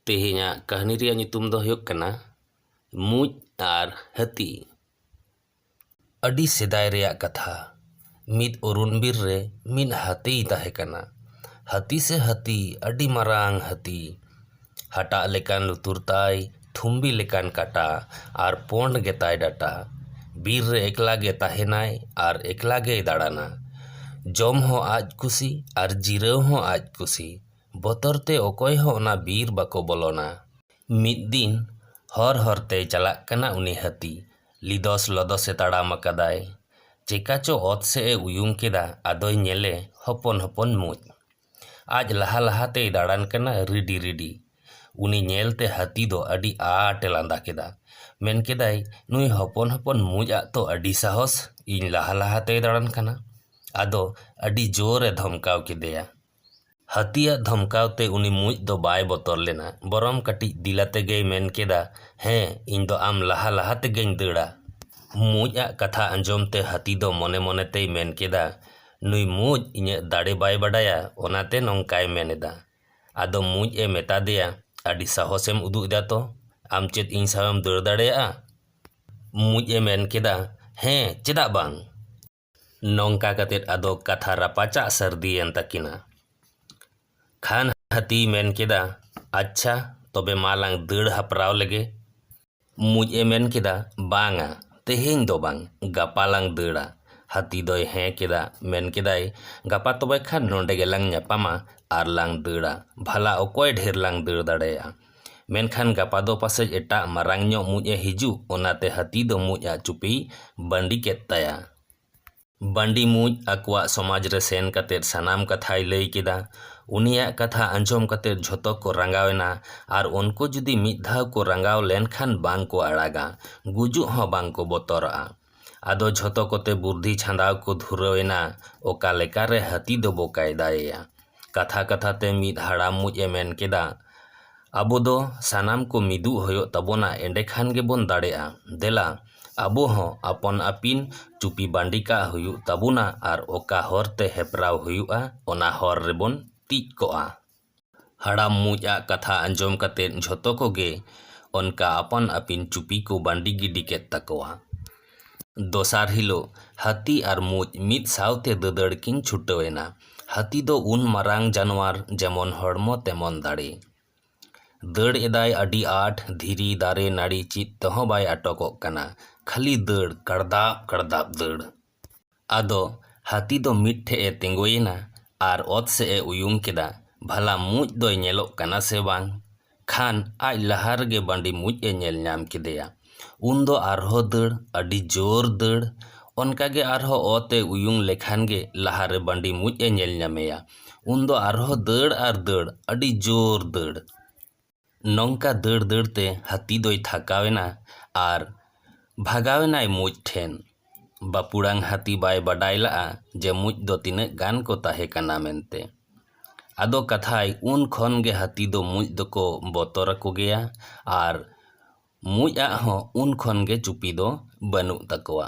ᱛᱮᱦᱮᱧᱟᱜ ᱠᱟᱹᱦᱱᱤ ᱨᱮᱭᱟᱜ ᱧᱩᱛᱩᱢ ᱫᱚ ᱦᱩᱭᱩᱜ ᱠᱟᱱᱟ ᱢᱩᱡ ᱟᱨ ᱦᱟᱹᱛᱤ ᱟᱹᱰᱤ ᱥᱮᱫᱟᱭ ᱨᱮᱭᱟᱜ ᱠᱟᱛᱷᱟ ᱢᱤᱫ ᱚᱨᱩᱱ ᱵᱤᱨ ᱨᱮ ᱢᱤᱫ ᱦᱟᱹᱛᱤᱭ ᱛᱟᱦᱮᱸ ᱠᱟᱱᱟ ᱦᱟᱹᱛᱤ ᱥᱮ ᱦᱟᱹᱛᱤ ᱟᱹᱰᱤ ᱢᱟᱨᱟᱝ ᱦᱟᱹᱛᱤ ᱦᱟᱴᱟᱜ ᱞᱮᱠᱟᱱ ᱞᱩᱛᱩᱨ ᱛᱟᱭ ᱛᱷᱩᱢᱵᱤ ᱞᱮᱠᱟᱱ ᱠᱟᱴᱟ ᱟᱨ ᱯᱳᱸᱰ ᱜᱮᱛᱟᱭ ᱰᱟᱴᱟ ᱵᱤᱨ ᱨᱮ ᱮᱠᱞᱟ ᱜᱮ ᱛᱟᱦᱮᱱᱟᱭ ᱟᱨ ᱮᱠᱞᱟ ᱜᱮᱭ ᱫᱟᱬᱟᱱᱟ ᱡᱚᱢ ᱦᱚᱸ ᱟᱡ ᱠᱩᱥᱤ ᱟᱨ ᱡᱤᱨᱟᱹᱣ ᱦᱚᱸ ᱟᱡ ᱠᱩᱥᱤ ᱵᱚᱛᱚᱨ ᱛᱮ ᱚᱠᱚᱭ ᱦᱚᱸ ᱚᱱᱟ ᱵᱤᱨ ᱵᱟᱠᱚ ᱵᱚᱞᱚᱱᱟ᱾ ᱢᱤᱫ ᱫᱤᱱ ᱦᱚᱨ ᱦᱚᱨ ᱛᱮᱭ ᱪᱟᱞᱟᱜ ᱠᱟᱱᱟ ᱩᱱᱤ ᱦᱟᱹᱛᱤ᱾ ᱞᱤᱫᱚᱥ ᱞᱚᱫᱚᱥ ᱮ ᱛᱟᱲᱟᱢ ᱟᱠᱟᱫᱟᱭ᱾ ᱪᱮᱠᱟ ᱪᱚ ᱚᱛ ᱥᱮᱫ ᱮ ᱩᱭᱩᱝ ᱠᱮᱫᱟ ᱟᱫᱚᱭ ᱧᱮᱞᱮ ᱦᱚᱯᱚᱱ ᱦᱚᱯᱚᱱ ᱢᱩᱡ᱾ ᱟᱡ ᱞᱟᱦᱟ ᱞᱟᱦᱟ ᱛᱮᱭ ᱫᱟᱲᱟᱱ ᱠᱟᱱᱟ ᱨᱤᱰᱤ ᱨᱤᱰᱤ᱾ ᱩᱱᱤ ᱧᱮᱞ ᱛᱮ ᱦᱟᱹᱛᱤ ᱫᱚ ᱟᱹᱰᱤ ᱟᱸᱴ ᱮ ᱞᱟᱸᱫᱟ ᱠᱮᱫᱟ᱾ ᱢᱮᱱ ᱠᱮᱫᱟᱭ ᱱᱩᱭ ᱦᱚᱯᱚᱱ ᱦᱚᱯᱚᱱ ᱢᱩᱡ ᱟᱜ ᱛᱚ ᱟᱹᱰᱤ ᱥᱟᱦᱚᱥ ᱤᱧ ᱞᱟᱦᱟ ᱞᱟᱦᱟ ᱛᱮᱭ ᱫᱟᱲᱟᱱ ᱠᱟᱱᱟ᱾ ᱟᱫᱚ ᱟᱹᱰᱤ ᱡᱳᱨ ᱮ ᱫᱷᱚᱢᱠᱟᱣ ᱠᱮᱫᱮᱭᱟ᱾ ᱦᱟᱹᱛᱤᱭᱟᱜ ᱫᱷᱚᱢᱠᱟᱣ ᱛᱮ ᱩᱱᱤ ᱢᱩᱸᱡ ᱫᱚ ᱵᱟᱭ ᱵᱚᱛᱚᱨ ᱞᱮᱱᱟ, ᱵᱚᱨᱚᱢ ᱠᱟᱹᱴᱤᱡ ᱫᱤᱞᱟ ᱛᱮᱜᱮᱭ ᱢᱮᱱ ᱠᱮᱫᱟ, ᱦᱮᱸ, ᱤᱧ ᱫᱚ ᱟᱢ ᱞᱟᱦᱟ ᱞᱟᱦᱟ ᱛᱮᱜᱮᱧ ᱫᱟᱹᱲᱟ᱾ ᱢᱩᱸᱡ ᱟᱜ ᱠᱟᱛᱷᱟ ᱟᱸᱡᱚᱢ ᱛᱮ ᱦᱟᱹᱛᱤ ᱫᱚ ᱢᱚᱱᱮ ᱢᱚᱱᱮ ᱛᱮᱭ ᱢᱮᱱ ᱠᱮᱫᱟ, ᱱᱩᱭ ᱢᱩᱸᱡ ᱤᱧᱟᱹᱜ ᱫᱟᱲᱮ ᱵᱟᱭ ᱵᱟᱰᱟᱭᱟ, ᱚᱱᱟᱛᱮ ᱱᱚᱝᱠᱟᱭ ᱢᱮᱱ ᱮᱫᱟ᱾ ᱟᱫᱚ ᱢᱩᱸᱡ ᱮ ᱢᱮᱛᱟ ᱫᱮᱭᱟ, ᱟᱹᱰᱤ ᱥᱟᱦᱚᱥ ᱮᱢ ᱩᱫᱩᱜ ᱮᱫᱟ ᱛᱚ, ᱟᱢ ᱪᱮᱫ ᱤᱧ ᱥᱟᱶ ᱮᱢ ᱫᱟᱹᱲ ᱫᱟᱲᱮᱭᱟᱜᱼᱟ? ᱢᱩᱸᱡ ᱮ ᱢᱮᱱ ᱠᱮᱫᱟ, ᱦᱮᱸ, ᱪᱮᱫᱟᱜ ᱵᱟᱝ᱾ ᱱᱚᱝᱠᱟ ᱠᱟᱛᱮ ᱟᱫᱚ ᱠᱟᱛᱷᱟ ᱨᱟᱯᱟᱪᱟᱜ ᱥᱟᱹᱨᱫᱤᱭᱮᱱ ᱛᱟᱹᱠᱤᱱᱟ ᱠᱷᱟᱱ ᱦᱟᱹᱛᱤᱭ ᱢᱮᱱ ᱠᱮᱫᱟ ᱟᱪᱪᱷᱟ ᱛᱚᱵᱮ ᱢᱟ ᱞᱟᱝ ᱫᱟᱹᱲ ᱦᱟᱯᱨᱟᱣ ᱞᱮᱜᱮ ᱢᱩᱡ ᱮ ᱢᱮᱱ ᱠᱮᱫᱟ ᱵᱟᱝᱟ ᱛᱮᱦᱮᱧ ᱫᱚ ᱵᱟᱝ ᱜᱟᱯᱟ ᱞᱟᱝ ᱫᱟᱹᱲᱟ ᱦᱟᱹᱛᱤ ᱫᱚᱭ ᱦᱮᱸ ᱠᱮᱫᱟ ᱢᱮᱱ ᱠᱮᱫᱟᱭ ᱜᱟᱯᱟ ᱛᱚᱵᱮ ᱠᱷᱟᱱ ᱱᱚᱰᱮ ᱜᱮᱞᱟᱝ ᱧᱟᱯᱟᱢᱟ ᱟᱨ ᱞᱟᱝ ᱫᱟᱹᱲᱟ ᱵᱷᱟᱞᱟ ᱚᱠᱚᱭ ᱰᱷᱮᱨ ᱞᱟᱝ ᱫᱟᱹᱲ ᱫᱟᱲᱮᱭᱟᱜᱼᱟ ᱢᱮᱱᱠᱷᱟᱱ ᱜᱟᱯᱟ ᱫᱚ ᱯᱟᱥᱮᱡ ᱮᱴᱟᱜ ᱢᱟᱨᱟᱝ ᱧᱚᱜ ᱢᱩᱸᱡ ᱮ ᱦᱤᱡᱩᱜ ᱚᱱᱟᱛᱮ ᱦᱟᱹᱛᱤ ᱫᱚ ᱢᱩᱸᱡ ᱟᱜ ᱪᱩᱯᱤᱭ ᱵᱟᱺᱰᱤ ᱠᱮᱫ ᱛᱟᱭᱟ᱾ ᱵᱟᱺᱰᱤ ᱢᱩᱸᱡ ᱟᱠᱚᱣᱟᱜ ᱥᱚᱢᱟᱡᱽ ᱨᱮ ᱥᱮᱱ ᱠᱟᱛᱮ ᱥᱟᱱᱟᱢ ᱠᱟᱛᱷᱟᱭ ᱞᱟᱹᱭ ᱠᱮᱫᱟ᱾ ᱩᱱᱤᱭᱟᱜ ᱠᱟᱛᱷᱟ ᱟᱸᱡᱚᱢ ᱠᱟᱛᱮ ᱡᱷᱚᱛᱚ ᱠᱚ ᱨᱟᱸᱜᱟᱣ ᱮᱱᱟ ᱟᱨ ᱩᱱᱠᱩ ᱡᱩᱫᱤ ᱢᱤᱫ ᱫᱷᱟᱣ ᱠᱚ ᱨᱟᱸᱜᱟᱣ ᱞᱮᱱ ᱠᱷᱟᱱ ᱵᱟᱝ ᱠᱚ ᱟᱲᱟᱜᱟ, ᱜᱩᱡᱩᱜ ᱦᱚᱸ ᱵᱟᱝ ᱠᱚ ᱵᱚᱛᱚᱨᱟᱜᱼᱟ᱾ ᱟᱫᱚ ᱡᱷᱚᱛᱚ ᱠᱚᱛᱮ ᱵᱩᱨᱫᱷᱤ ᱪᱷᱟᱸᱫᱟᱣ ᱠᱚ ᱫᱷᱩᱨᱟᱹᱣ ᱮᱱᱟ ᱚᱠᱟ ᱞᱮᱠᱟᱨᱮ ᱦᱟᱹᱛᱤ ᱫᱚᱵᱚ ᱠᱟᱭᱫᱟᱭᱮᱭᱟ ᱠᱟᱛᱷᱟ ᱠᱟᱛᱷᱟ ᱛᱮ ᱢᱤᱫ ᱦᱟᱲᱟᱢ ᱢᱩᱡ ᱮ ᱢᱮᱱ ᱠᱮᱫᱟ ᱟᱵᱚ ᱫᱚ ᱥᱟᱱᱟᱢ ᱠᱚ ᱢᱤᱫᱩᱜ ᱦᱩᱭᱩᱜ ᱛᱟᱵᱚᱱᱟ ᱮᱸᱰᱮ ᱠᱷᱟᱱ ᱜᱮᱵᱚᱱ ᱫᱟᱲᱮᱜᱼᱟ ᱫᱮᱞᱟ ᱟᱵᱚ ᱦᱚᱸ ᱟᱯᱟᱱ ᱟᱹᱯᱤᱱ ᱪᱩᱯᱤ ᱵᱟᱺᱰᱤ ᱠᱟᱜ ᱦᱩᱭᱩᱜ ᱛᱟᱵᱚᱱᱟ ᱟᱨ ᱚᱠᱟ ᱦᱚᱨ ᱛᱮ ᱦᱮᱯᱨᱟᱣ ᱦᱩᱭᱩᱜᱼᱟ ᱚᱱᱟ ᱦᱚᱨ ᱨᱮᱵᱚᱱ ᱛᱤᱡ ᱠᱚᱜᱼᱟ ᱦᱟᱲᱟᱢ ᱢᱩᱸᱡ ᱟᱜ ᱠᱟᱛᱷᱟ ᱟᱸᱡᱚᱢ ᱠᱟᱛᱮ ᱡᱷᱚᱛᱚ ᱠᱚᱜᱮ ᱚᱱᱠᱟ ᱟᱯᱟᱱ ᱟᱹᱯᱤᱱ ᱪᱩᱯᱤ ᱠᱚ ᱵᱟᱺᱰᱤ ᱜᱤᱰᱤ ᱠᱮᱫ ᱛᱟᱠᱚᱣᱟ᱾ ᱫᱚᱥᱟᱨ ᱦᱤᱞᱚᱜ ᱦᱟᱹᱛᱤ ᱟᱨ ᱢᱩᱸᱡ ᱢᱤᱫ ᱥᱟᱶᱛᱮ ᱫᱟᱹᱫᱟᱹᱲ ᱠᱤᱱ ᱪᱷᱩᱴᱟᱹᱣ ᱮᱱᱟ᱾ ᱦᱟᱹᱛᱤ ᱫᱚ ᱩᱱ ᱢᱟᱨᱟᱝ ᱡᱟᱱᱣᱟᱨ ᱡᱮᱢᱚᱱ ᱦᱚᱲᱢᱚ ᱛᱮᱢᱚᱱ ᱫᱟᱲᱮ᱾ ᱫᱟᱹᱲ ᱮᱫᱟᱭ ᱟᱹᱰᱤ ᱟᱸᱴ, ᱫᱷᱤᱨᱤ, ᱫᱟᱨᱮ, ᱱᱟᱹᱲᱤ ᱪᱤᱫ ᱛᱮᱦᱚᱸ ᱵᱟᱭ ᱟᱴᱚᱠᱚᱜ ᱠᱟᱱᱟ᱾ ᱠᱷᱟᱹᱞᱤ ᱫᱟᱹᱲ, ᱠᱟᱲᱫᱟᱵᱽ ᱠᱟᱲᱫᱟᱵᱽ ᱫᱟᱹᱲ᱾ ᱟᱫᱚ ᱦᱟᱹᱛᱤ ᱫᱚ ᱢᱤᱫ ᱴᱷᱮᱡ ᱮ ᱛᱮᱸᱜᱳ ᱭᱮᱱᱟ ᱟᱨ ᱚᱛ ᱥᱮᱡ ᱮ ᱩᱭᱩᱝ ᱠᱮᱫᱟ ᱵᱷᱟᱞᱟ ᱢᱩᱡ ᱫᱚᱭ ᱧᱮᱞᱚᱜ ᱠᱟᱱᱟ ᱥᱮ ᱵᱟᱝ᱾ ᱠᱷᱟᱱ ᱟᱡ ᱞᱟᱦᱟ ᱨᱮᱜᱮ ᱵᱟᱺᱰᱤ ᱢᱩᱡ ᱮ ᱧᱮᱞ ᱧᱟᱢ ᱠᱮᱫᱮᱭᱟ᱾ ᱩᱱ ᱫᱚ ᱟᱨᱦᱚ ᱫᱟᱹᱲ, ᱟᱹᱰᱤ ᱡᱳᱨ ᱫᱟᱹᱲ᱾ ᱚᱱᱠᱟ ᱜᱮ ᱟᱨᱦᱚ ᱚᱛ ᱮ ᱩᱭᱩᱝ ᱞᱮᱠᱷᱟᱱ ᱜᱮ ᱞᱟᱦᱟ ᱨᱮ ᱵᱟᱺᱰᱤ ᱢᱩᱡ ᱮ ᱧᱮᱞ ᱧᱟᱢᱮᱭᱟ᱾ ᱩᱱ ᱫᱚ ᱟᱨᱦᱚ ᱫᱟᱹᱲ ᱟᱨ ᱫᱟᱹᱲ, ᱟᱹᱰᱤ ᱡᱳᱨ ᱫᱟᱹᱲ᱾ ᱱᱚᱝᱠᱟ ᱫᱟᱹᱲ ᱫᱟᱹᱲ ᱛᱮ ᱦᱟᱹᱛᱤ ᱫᱚᱭ ᱛᱷᱟᱠᱟᱣ ᱮᱱᱟ ᱟᱨ ᱵᱷᱟᱜᱟᱣ ᱮᱱᱟᱭ ᱢᱩᱡ ᱴᱷᱮᱱ᱾ ᱵᱟᱹᱯᱩᱲᱟᱝ ᱦᱟᱹᱛᱤ ᱵᱟᱭ ᱵᱟᱰᱟᱭ ᱞᱟᱜᱼᱟ ᱡᱮ ᱢᱩᱡ ᱫᱚ ᱛᱤᱱᱟᱹᱜ ᱜᱟᱱ ᱠᱚ ᱛᱟᱦᱮᱸ ᱠᱟᱱᱟ ᱢᱮᱱᱛᱮ᱾ ᱟᱫᱚ ᱠᱟᱛᱷᱟᱭ ᱩᱱ ᱠᱷᱚᱱ ᱜᱮ ᱦᱟᱹᱛᱤ ᱫᱚ ᱢᱩᱡ ᱫᱚᱠᱚ ᱵᱚᱛᱚᱨ ᱟᱠᱚ ᱜᱮᱭᱟ ᱟᱨ ᱢᱩᱡ ᱟᱜ ᱦᱚᱸ ᱩᱱ ᱠᱷᱚᱱ ᱜᱮ ᱪᱩᱯᱤ ᱫᱚ ᱵᱟᱹᱱᱩᱜ ᱛᱟᱠᱚᱣᱟ᱾